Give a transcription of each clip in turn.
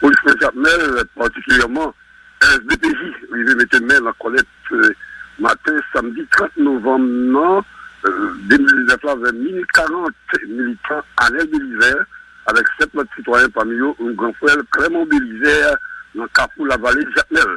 Polis nan Jakmèl, patikilyèman SDPJ rive mete men nan kòlèt maten samdi 30 novanm nan 2019 la vè minit 40. Militan Anèl Belizè avèk 7 lòt sitwayen pami yo yon gran frè l Klèman Belizè nan kafou Lavale Jakmèl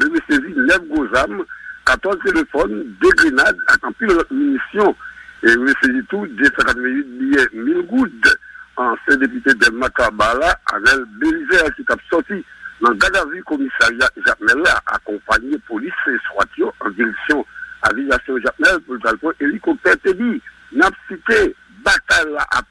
Lame sezi 9 gwo zam, 14 telefòn, 2 grenad ak anpil lòt minisyon. Yo te sezi tou 288 biyè mil goud. Ansyen depite Dèlma 3 Ba la, Anèl Belizè ki tap sòti nan gadavi komisarya Jakmèl la akonpanye polis swat yo an direksyon aviyasyon Jakmèl pou l t al pran elikoptè te di, nap site, batay la ap.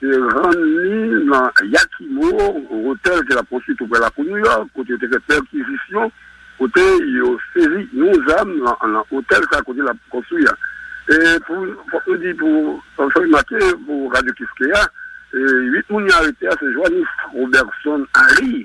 te rann li nan Yakimo, otèl ke l ap konstwi tou prè lakou New York, kote yo te fè pèkizisyon, kote yo sezi yon zam nan otèl sa kote l ap konstwi a. E pou, fòk nou di pou, fòk nou make pou Radio Kiskeya, 8 moun yo arete a se Johannes Roberson Harry,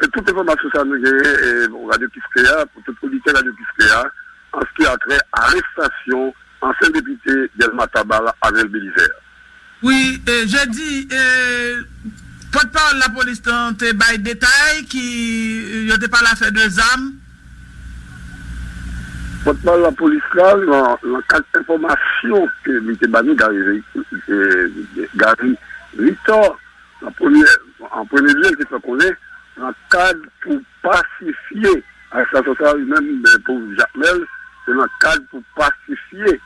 Se tout enfòmasyon sa nou genyen pou Radyo Kiskeya, pou tout oditè Radyo Kiskeya, an ski a trè arestasyon ansyen depite Dèlma Taba la, Arnel Belizèr. Wi, Jedi, pòtpawòl lapolis lan te bay detay ki yo te pale afè de zam. Pòtpawòl lapolis la, lan kad enfòmasyon ke li te ba nou, Gary Victor, An premye an premye lye, l te fè konnen nan kad pou pasifye arestasyon sa a, li menm pou Jakmèl, se nan kad pou pasifye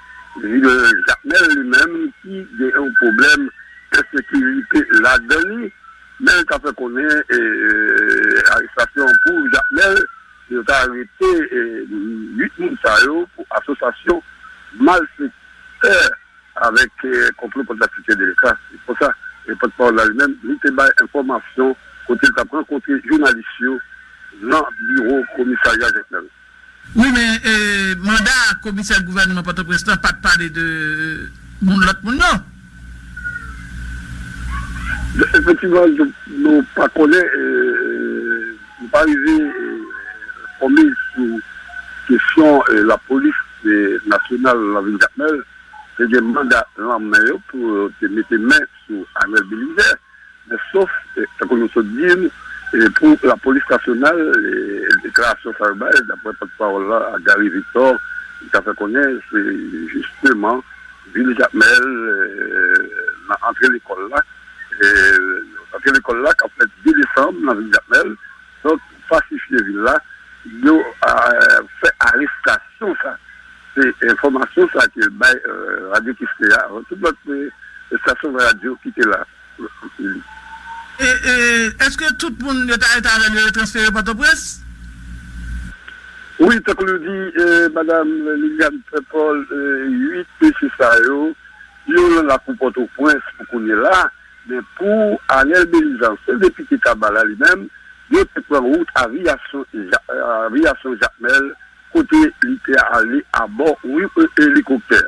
vi de Jakmèl li menm ki gen yon pwoblèm ensekirite ladan li, men l ta fè konnen arestasyon pou Jakmèl, yo ta arete 8 moun sa yo pou asosasyon malfektè. Avèk konplo kont latifye delika se konsa pòt pawòl la li menm li te bay enfòmasyon kote li tap rankontre jounalis yo nan biwo komisarya jekmèl. Wi men manda komisè gouvènman pòtoprens lan pat pale de moun lòt moun non. Efektivman nou pa konnen nou pa rive enfòme sou kesyon lapolis nasyonal nan vil jakmèl. te gen manda lan men yo pou yo te mete men sou Anel Belizè, men sof, tankou nou sot di, pou lapolis nasyonal, deklarasyon sa yo bay, dapwè pòt pawòl la, Gary Victor, li ta fè konnen se jisteman vil Jakmèl nan antre lekòl la, antre lekòl la kap fèt 2 desanm nan vil Jakmèl. Donk fòtifye vil la, yo fè arestasyon sa. Se enfòmasyon sa ke bay radyo Kiskeya avan tout lòt estasyon radyo ki te la. E èske tout moun yo ta rete avè l yo, yo transfere Pòtoprens? Wi, tankou nou di madam Liliane Pèpòl, 8 mesye sa yo, yo lan lakou Pòtoprens pou kounye la. Men pou Anel Belizans, sèl depite Taba la li menm, yo te pran wout aviyasyon Jakmèl kote li te ale abò yon elikoptè.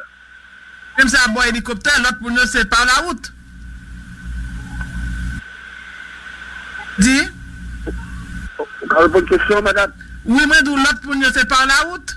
Menm se abò elikoptè, lòt moun yo se pa la wout. Di. Ou ka reponn kesyon an, madam? Wi, mwen di w lòt moun yo se pa la wout.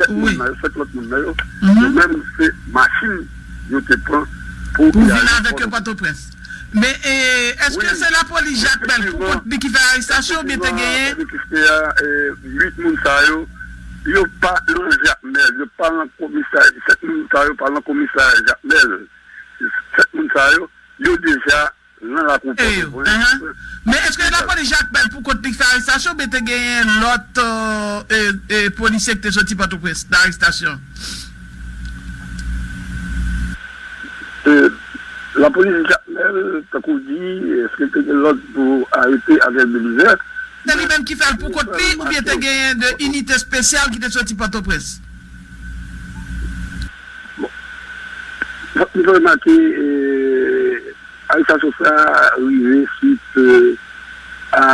7 moun nan yo, 7 lòt moun nan yo, yo menm se machin yo te pran pou y ale Pòtoprens. Men, èske se lapolis Jacques Bel pou kont li ki fè arestasyon yo oubyen te genyen? Efektivman, 8 moun sa yo, yo pa nan Jakmèl, yo pa nan komisarya, 7 moun sa yo pa nan komisarya Jakmèl. 7 moun sa yo, yo deja Te yo. Men eske lapolis Jakmèl pou kont li k fè arestasyon oubyen te genyen lòt polisye ki te soti Pòtoprens nan arestasyon? Lapolis Jakmèl tankou w di eske te gen lòd pou arete Ariel Belizè? Se li menm ki fè l pou kont li oubyen te genyen 2 inite spesyal ki te soti Pòtoprens? Fòk nou fè remake, arestasyon sa a rive swit a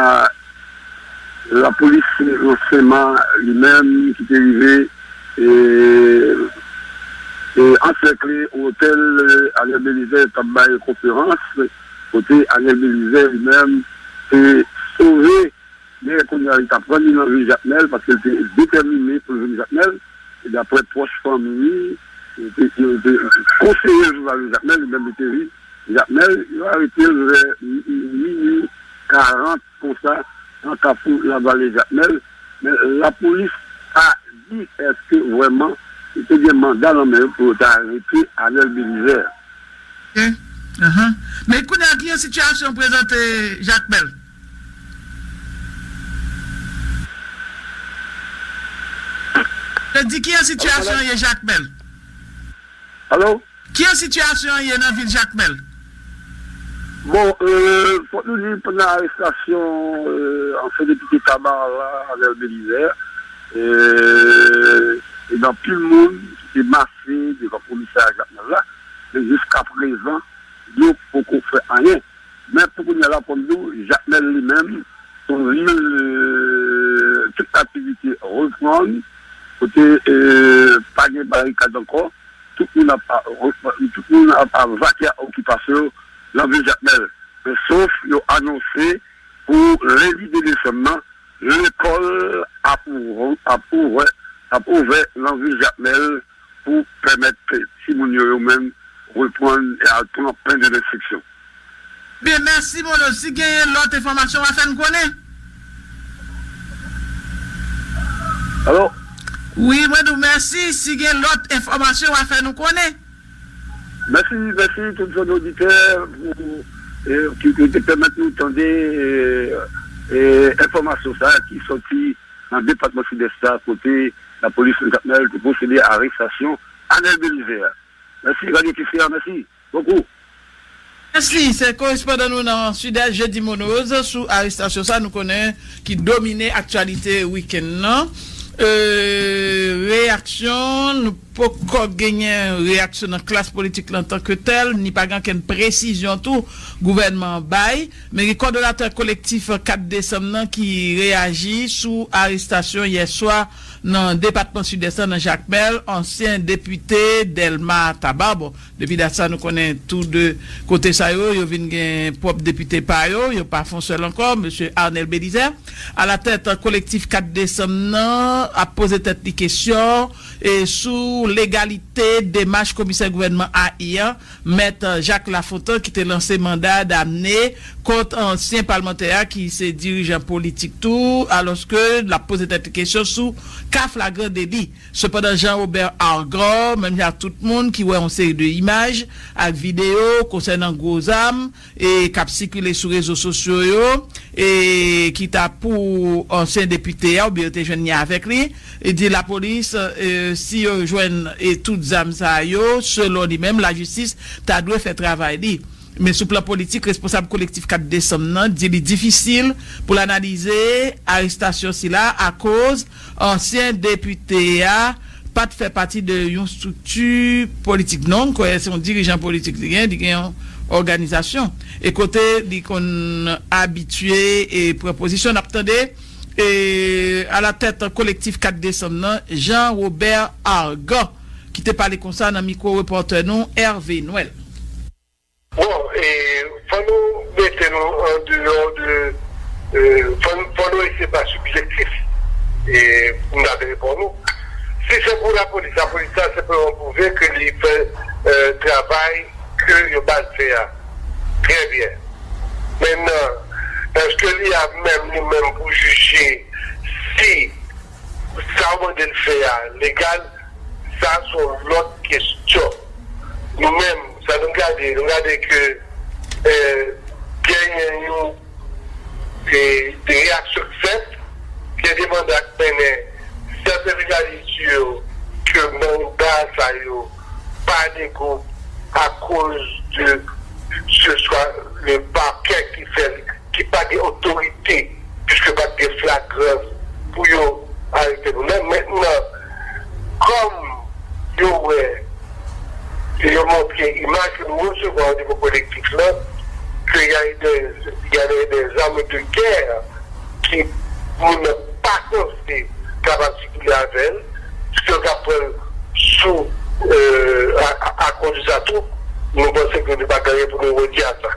lapolis Nsema li menm ki te rive ansèkle otèl Ariel Belizaire t ap bay konferans, kote Ariel Belizaire li menm te sove. Men, kounye a, li ta pran li nan vil Jakmèl paske li te detèmine pou l vin Jakmèl. E dapre pwòch fanmi li, yo te konseye l pou l pa vin Jakmèl, li menm li te vin Jakmèl. Yo arete l vè minui karant konsa nan kafou Lavale, Jakmèl. Men, lapolis pa di èske vrèman yo te gen manda nan men yo pou yo ta arete Anèl Belizè. Oke. Ahan. Men, kounye a, ki jan sitiyasyon an prezante Jakmèl? Te di kijan sitiyasyon an ye Jakmèl? Alo? Kijan sitiyasyon an ye nan vil Jakmèl? Bon, fòk nou di pandan arestasyon ansyen depite Tabarre la, Arnel Belizaire, te gen anpil moun ki te mase devan komisarya Jakmèl la, men jiskaprezan yo poko fè anyen. Men pou kounya la konn di w Jakmèl li menm son vil tout aktivite reprann kote pa gen barikad ankò tout moun ap tout moun ap vake a okipasyon yo nan vil Jakmèl men sof yo anonse pou lendi 2 desanm nan lekòl ap ap ouvè ap ouvè nan vil Jakmèl. pou pèmèt timoun yo yo menm reprann e al pran pen de lenstriksyon. Byen mèsi Bolo si genyen lòt enfòmasyon wa fèn konnen. Allo. Wi mwen di w mèsi si gen lòt enfòmasyon wa fè nou konnen. Mèsi mèsi tout zòn oditè ki pèmèt nou tande enfòmasyon sa ki sòti. nan depatman Sidès la kote lapolis nan Jakmèl te pwosede a arestasyon Anel Belizaire. Mèsi Radio Kiskeya, mèsi bokou. Mèsi, se korespondan nou nan Sidès Jeudy Munoz sou arestasyon sa nou konnen ki domine aktyalite wikenn nan. Reyaksyon, nou poko genyen reyaksyon nan klas politik lan tanke tèl, ni pa gen okenn presizyon tou gouvènman an bay. Meri Kòdonatè Kolektif 4 Desanm nan ki reyaji sou arestasyon yè swa nan depatman Sidès la nan Jakmèl ansyen depite Dèlma Tabar. Bon, depi dat sa nou konnen tou 2 kote sa yo, yo vin gen pwòp depite pa yo, yo pa fon sèl ankò. Mesye Arnel Bélizaire, alatèt Kolektif 4 Desanm nan ap poze tèt li kesyon sou legalite demach komisè gouvènman AI an, Mèt Jacques Lafontant ki te lanse manda damne kont ansyen palmantè a ki se dirijan politik tou alòske l ap poze tèt li kesyon sou ka flagran deli. Sepandan Jean Robert Argard, menm jan ak tout moun ki wè yon seri de imaj ak videyo konsènan gwo zam, k ap sikile sou rezo sosyo yo e ki ta pou ansyen depite a oubyen yo te jwenn li avèk li, di lapolis si yo jwenn tout zam sa yo, selon li menm, lajistis ta dwe fè travay li. Men sou plan politik, responsab Kolektif 4 desanm nan di li difisil pou l analize arestasyon sila akoz Ansyen depite a pa t fè pati de yon estrikti politik non, m kwè se yon dirijan politik li gen, li gen yon òganizasyon e kote li konn abitye pran pozisyon. N ap tande alatèt Kolektif 4 desanm nan, Jean Robert Argan ki te pale konsa nan mikwo repòtè nou Hervé Noël. Bon e fò nou mete nou an deyò de fò nou ese pa sibjektif e pou m ta de reponn ou. Si se pou lapolis, lapolis la senpleman pwouve ke li fè travay ke yo ba l fè a trè byen. Mennan eske li a menm li menm pou jije si. Sa ou mande l fè a legal? Sa a se yon lòt kesyon. Nou menm, sa nou gade, nou gade ke genyen yon reyaksyon k fèt, gen demand ak mennen sèten jounalis di yo ke manda sa yo pa lego akoz de se swa le pakè ki fè l. ki pa gen otorite puiske pat gen flagrans pou yo arete nou men mentnan kòm yo wè e yo montre imaj ke nou resevwa o nivo kolektif lan ke ya e dè ya e dè zame de gè ki moun nan pa panse kapab sikile avèl puiske yo ka pranl sou a a a kondisa tou nou panse ke nou pa gen anyen pou nou redi a sa.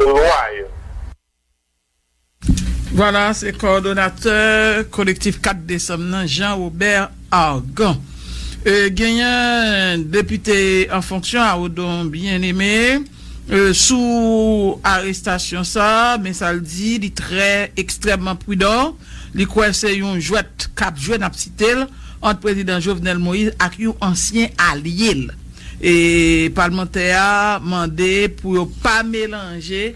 lwa yo. Vwala, se kowòdonatè Kolektif 4 Desanm nan, Jean Robert Argan. Genyen depite an fonksyon a, Odon Bien-Aimé, sou arestasyon sa a, men sa l di, li trè ekstrèmman pridan, li kwè se yon jwèt k ap jwe, n ap site l, ant Prezidan Jovenel Moïse ak yon ansyen alye l. Palmantè a mande pou yo pa melanje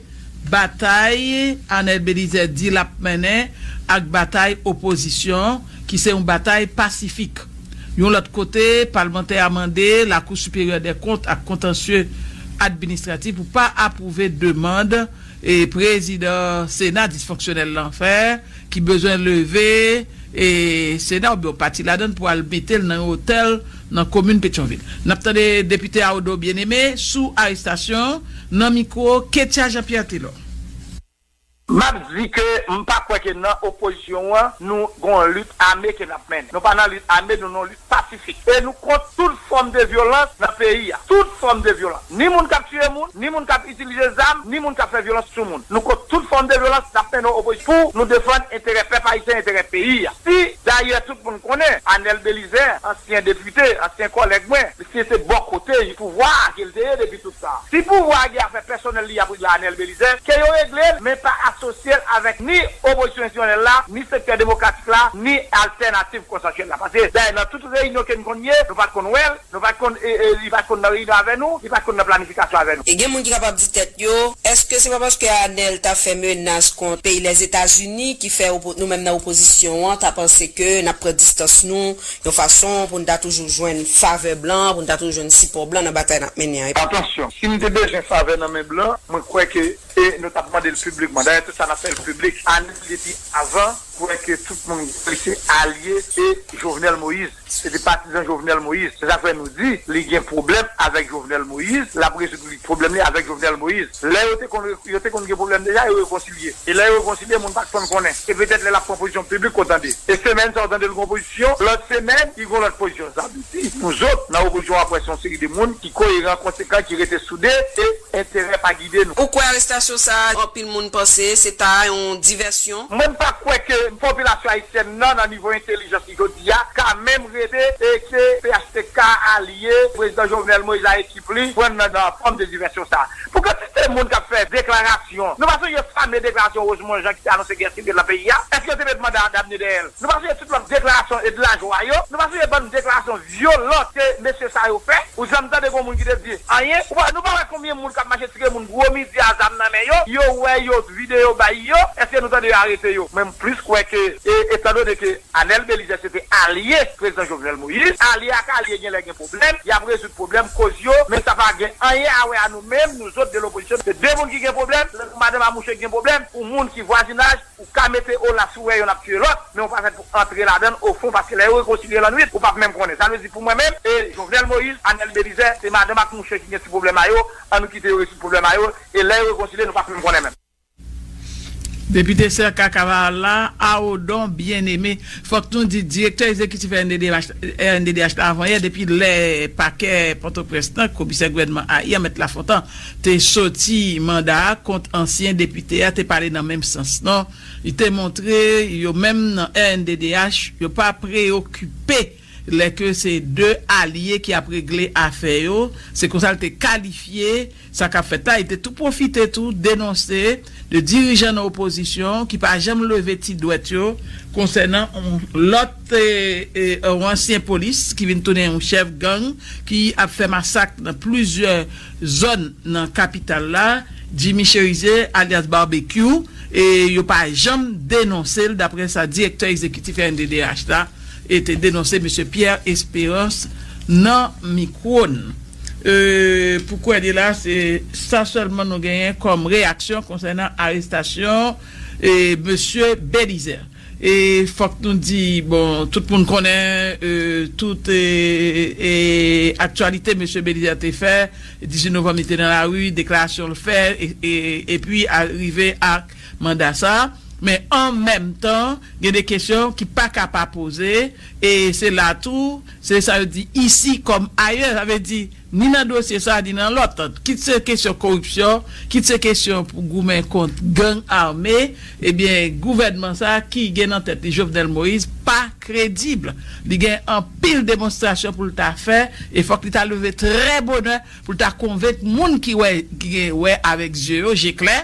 batay Anel Belizè di lap mennen ak batay opozisyon an ki se yon batay pasifik. Yon lòt kote, palmantè a mande Lakou Siperyè dè Kont ak Kontansye Administratif pou pa apwouve demand prezidan sena disfonksyonèl lan fè ki bezwen leve sena oubyen yon pati ladan l pou al mete l nan yon otèl nan komin Petyonvil. N ap tande depite Aodo Bien-Aimé sou arestasyon an nan mikwo Ketya Jean Pierre Telor. M ap di ke m pa kwè ke nan opozisyon an nou gen yon lit ame ke n ap mennen. Nou pa nan lit ame, nou nan yon lit pasifik. E nou kont tout fòm de vyolans nan peyi a. Tout fòm de vyolans. Ni moun k ap tiye moun, ni moun k ap itilize zam, ni moun k ap fè vyolans sou moun. Nou kont tout fòm de vyolans, n ap mennen opozisyon pou nou defann enterè pèp ayisyen, enterè peyi a. Si, dayè tout moun konnen, Anèl Belizè, ansyen depite, ansyen kòlèg mwen, misye se bò kote pouvwa a ke l te ye depi tout tan an. Si pouvwa a gen afè pèsonèl li ap regle ak Anèl Belizè, ke yo regle l, men pa asosye l avèk ni opozisyon enstisyonèl la, ni sektè demokratik la, ni altènativ konsansyèl la. Paske dayè nan tout reyinyon ke n konn ye, nou pa t konn wè l. Nou pa t konn, li pa t konn nan reyinyon avè nou, li pa t konn nan planifikasyon avè nou. E gen moun ki kapab di tèt yo, Èske se pa paske Arnel t ap fè menas kont peyi Lèzetazini ki fè nou menm nan opozisyon an ta panse ke n ap pran distans nou yon fason pou n ta toujou jwenn favè blan, pou n ta toujou jwenn sipò blan nan batay n ap mennen an? Atansyon, si m te bezwen favè nan men blan, mwen kwè ke nou t ap mande l piblikman. Dayè tout sa n ap fè l piblik. Arnel depi avan kwè ke tout moun li se alye e Jovenel Moïse. Se te patizan Jovenel Moïse. Se sak fè nou di li gen pwoblèm avèk Jovenel Moïse, lap rezoud li pwoblèm li avèk Jovenel Moïse. Lè yo te konn yo te konn gen pwoblèm deja yo rekonsilye. E lè yo rekonsilye moun pat konn konnen. E petèt lè lap pran pozisyon piblik ou tande. E semèn sa ou tande li gon pozisyon, lòt semèn li gon lòt pozisyon. Sa vle di nou zòt nan opozisyon wap wè se yon seri de moun ki koyeran, konsekan, ki rete soude e enterè pa gide nou. Ou kwè arestasyon sa a anpil moun panse se ta yon divèsyon? Mwen m pa kwè ke popilasyon ayisyèn nan nan nivo entelijans Jodi a, ka menm rete e se phtk a li ye, Prezidan Jovenel Moïse a ekip li pran nan fòm de divèsyon sa. Pou kantite moun k ap fè deklarasyon, nou pa sonje fame deklarasyon Rosemond Jean ki te anonse gè sivil nan peyi a? Èske yo te met manda Damne dèyè l? Nou pa sonje tout lòt deklarasyon e de lajwa yo? Nou pa sonje bann deklarasyon vyolan ke mesye sa yo fè ou janm tande gon moun ki te di anyen nou pa wè konbyen moun kap mache tire moun gwo midi a zam nan men yo yo wè yo video bay yo eske nou tande yo arete yo mwen m plis kwè ke e etan done ke Anel Belizaire se te alye prezidan Jovenel Moïse alye ak alye genlè gen pwoblèm yap rezoud pwoblèm koz yo men sa pa gen anyen a wè a nou menm nou zot de lopozisyon se de moun ki gen pwoblèm lè pou madanm a mouche ki gen pwoblèm pou moun ki vwazinaj Ou ka mete Olaf si w wè yonn ap tiye lòt, men ou pa fèt pou antre ladan l ofon paske lè yo rekonsilye lannwit, ou p ap menm konnen. Sa vle di pou mwen menm e Jovenel Moïse, Anèl Belizè, se madanm ak mouche ki gen ti pwoblèm a yo, an nou kite yo rezoud pwoblèm a yo e lè yo rekonsilye nou p ap menm konnen menm. Depite Cerca Cavalla a Odon Bien Aimé, fòk nou di direktè ezekitif rnddh la avan yè depi lè pakè Pòtoprens lan, komisè gouvènman Ayan, Mèt Lafontan, te soti manda a kont ansyen depite a te pale nan menm sans non. Li te montre yo menm nan rnddh yo pa preyokipe lè ke se 2 alye ki ap regle afè yo, se konsa li te kalifye sa kap fèt la, li te tou pwofite tou denonse 2 dirijan nan opozisyon ki pa janm leve ti dwèt yo konsènan lòt. Se yon ansyen polis ki vin tounen yon chèf gang ki ap fè masak nan plizyè zòn nan kapital la, Jimmy Chérizier alyas Barbecue, e yo pa janm denonse l, daprè sa direktè egzekitif rnddh la te denonse Mesye Pierre Espérance nan mikwo n. Pou kounye la se sa sèlman nou genyen kòm reyaksyon konsènan arestasyon Mesye Bélizaire. E fòk nou di, bon, tout moun konnen tout aktyalite mesye Belizaire te fè, 18 novanm li te nan lari, deklarasyon l fè epi rive ak manda sa a. Men an menm tan, gen de kesyon ki pa ka pa poze e se la tou, se sa yo di, ici comme ailleurs, sa vle di, ni nan dosye sa a ni nan lòt, kit se kesyon koripsyon, kit se kesyon pou goumen kont gang ame, ebyen gouvènman sa a ki gen nan tèt li Jovenel Moïse pa kredib. Li gen anpil demonstrasyon pou l ta fè e fòk li ta leve trè bonè pou l ta konvenk moun ki wè, ki gen wè avèk zye yo, je klè,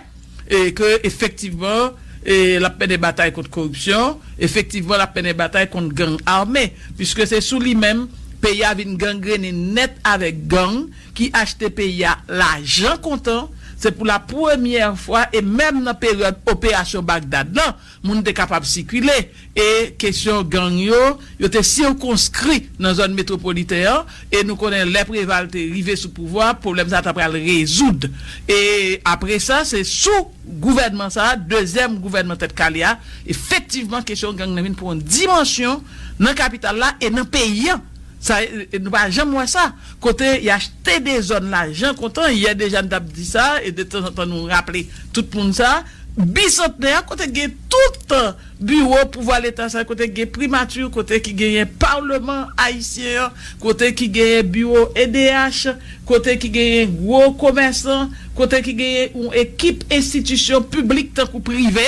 ke efektivman l ap mennen batay kont koripsyon, efektivman l ap mennen batay kont gang ame, puiske se sou li menm peyi a vin gangrennen nèt avèk gang ki achte peyi a lajan kontan, se pou la premyè fwa e menm nan peryòd operasyon Bagdad lan, Moun te kapab sikile, e kesyon gang yo, yo te sikonskri nan zòn metwopoliten an, e nou konnen lè Preval te rive sou pouvwa a, pwoblèm sa a ta pral rezoud. E apre sa, se sou gouvènman sa a, dezyèm gouvènman Tèt Kale a, efektivman kesyon gang nan vin pran yon dimansyon nan kapital la e nan peyi an. Sa, nou pa janm wè sa. Kote y achte de zòn lajan kontan, yè deja n t ap di sa, e detanzantan nou raple tout moun sa. Bisantnè a, kote k gen toutan biwo pouvwa leta sa yo, kote k gen primati, kote ki genyen palman ayisyen an, kote ki genyen biwo edh, kote ki genyen gwo komèsan, kote ki genyen yon ekip enstitisyon piblik tankou prive,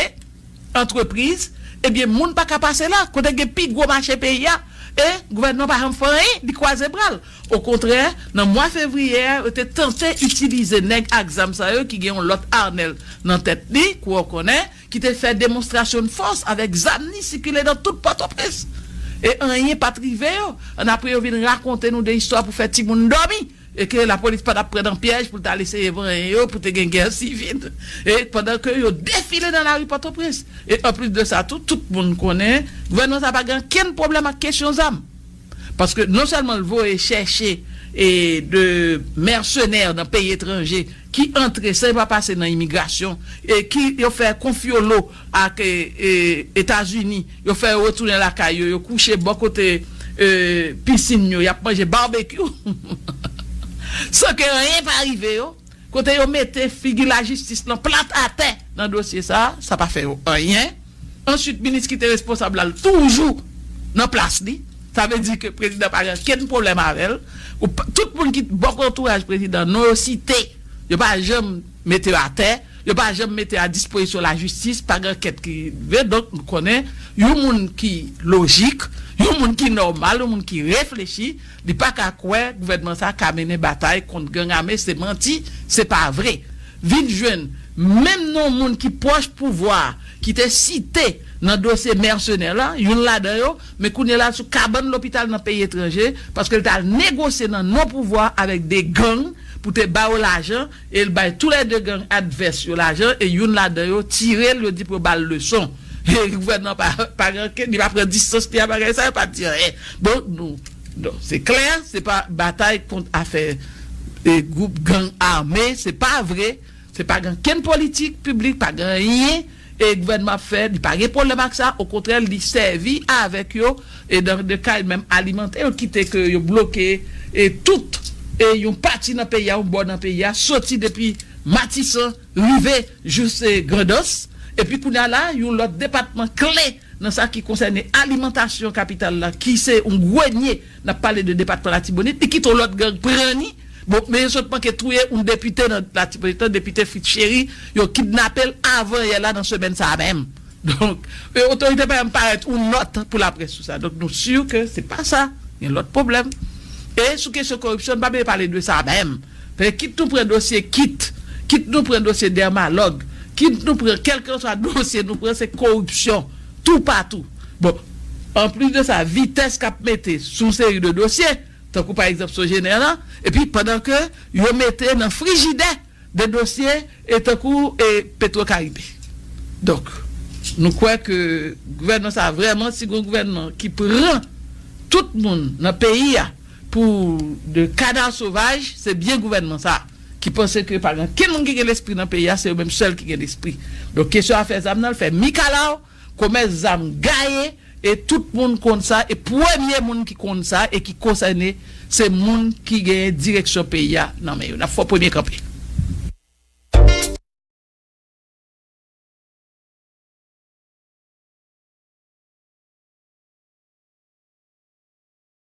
antrepriz, ebyen moun pa ka pase la, kote gen pi gwo mache peyi a, e gouvènman pa janm fè anyen, li kwaze bra l. Okontrè, nan mwa fevriye a, yo te tante itilize nèg ak zam sa yo ki gen yon lòt Arnel nan tèt li, kou ou konnen, ki te fè demonstrasyonn fòs avèk zam li sikile nan tout Pòtoprens. E anyen pa t rive yo. An apre yo vin rakonte nou de istwa pou fè timoun dòmi e ke lapolis pa t ap pran nan pyèj pou l t al eseye vanyen yo pou te gen gè sivil e pandan ke yo defile nan lari Pòtoprens. E anplis de sa tou, tout moun konnen gouvènman sa a pa gen ankenn pwoblèm ak kesyon zam. Paske non sèlman l voye chèche de mèsenè nan peyi etranje ki antre san yo pa pase nan imigrasyon e ki yo fè konfyolo ak Etazini, yo fè yo retounen lakay yo, yo kouche bò kote pisin yo, y ap manje barbecue san ke anyen pa rive yo. Kote yo mete figi lajistis lan plat atè nan dosye sa, sa pa fè yo anyen. Answit minis ki te responsab la l toujou nan plas li. Sa vle di ke prezidan pa gen okenn pwoblèm avè l. Tout moun ki bò antouraj prezidan non yo site, yo pa janm mete yo atè, yo pa janm mete a dispozisyon lajistis, pa gen ankèt ki rive. Donk nou konnen yon moun ki lojik, yon moun ki nòmal, yon moun ki reflechi. Li pa ka kwè gouvènman sa ka mennen batay kont gang ame se manti se pa vre vin jwenn menm non moun ki pwòch pouvwa ki te site nan dosye mèsenè la youn ladan yo men kounye la sou kabann lopital nan peyi etranje paske l t al negosye nan non pouvwa avèk 2 gang pou te ba yo lajan e l bay tou lè 2 gang advès yo lajan e youn ladan yo tire l yo di pou yo ba l leson e gouvènman an pa ranke li pa pran distans li a bagay sa yo pa di anyen donk nou donk se klè se pa batay kont afè e gwoup gang ame se pa vre se pa gen ankenn politik piblik pa gen anyen. e gouvènman ap fè li pa gen pwoblèm ak sa okontrè li sèvi avèk yo e nan de ka li menm alimante yo kite ke yo bloke e tout e yon pati nan peyi a yon bò nan peyi a soti depi matisan rive jous e grandans epi kounye a la yon lòt depatman kle Nan sa ki konsène alimantasyon kapital la ki se yon gwenye, n ap pale de depatman Latibonit, li kite yon lòt gang pran ni. Bon, men yo sot manke touye yon depite nan Latibonit lan, depite Fritz Chéry, yo kidnape l avan yè la nan semèn sa a menm. Donk, otorite pa janm parèt yon nòt pou laprès sou sa. Donk, nou si ke se pa sa, gen lòt pwoblèm. E sou kesyon koripsyon, n pa bliye pale de sa menm. Paske kit nou pran dosye kit, kit nou pran dosye dèmalòg, kit nou pran kèlkanswa dosye nou pran se koripsyon toupatou. Bon, anplis de sa vitès k ap mete sou yon seri de dosye, tankou pa egzanp Sogener lan, epi pandan ke yo mete nan frijidè de dosye e tankou e Petro Caribe. Donk, nou kwè ke gouvènman sa a vrèman si gen yon gouvènman ki pran tout moun nan peyi a, Pou de kadav sovaj, se byen gouvènman sa a, ki panse ke pa gen ankenn moun ki gen lespri nan peyi a, se yo menm sèl ki gen lespri. Donk kesyon afè zam nan, l fè mikalaw, komès zam gaye, e tout moun konn sa, e premye moun ki konn sa e ki konsène, se moun ki genyen direksyon peyi a nan men yo. N ap fè w premye kanpe.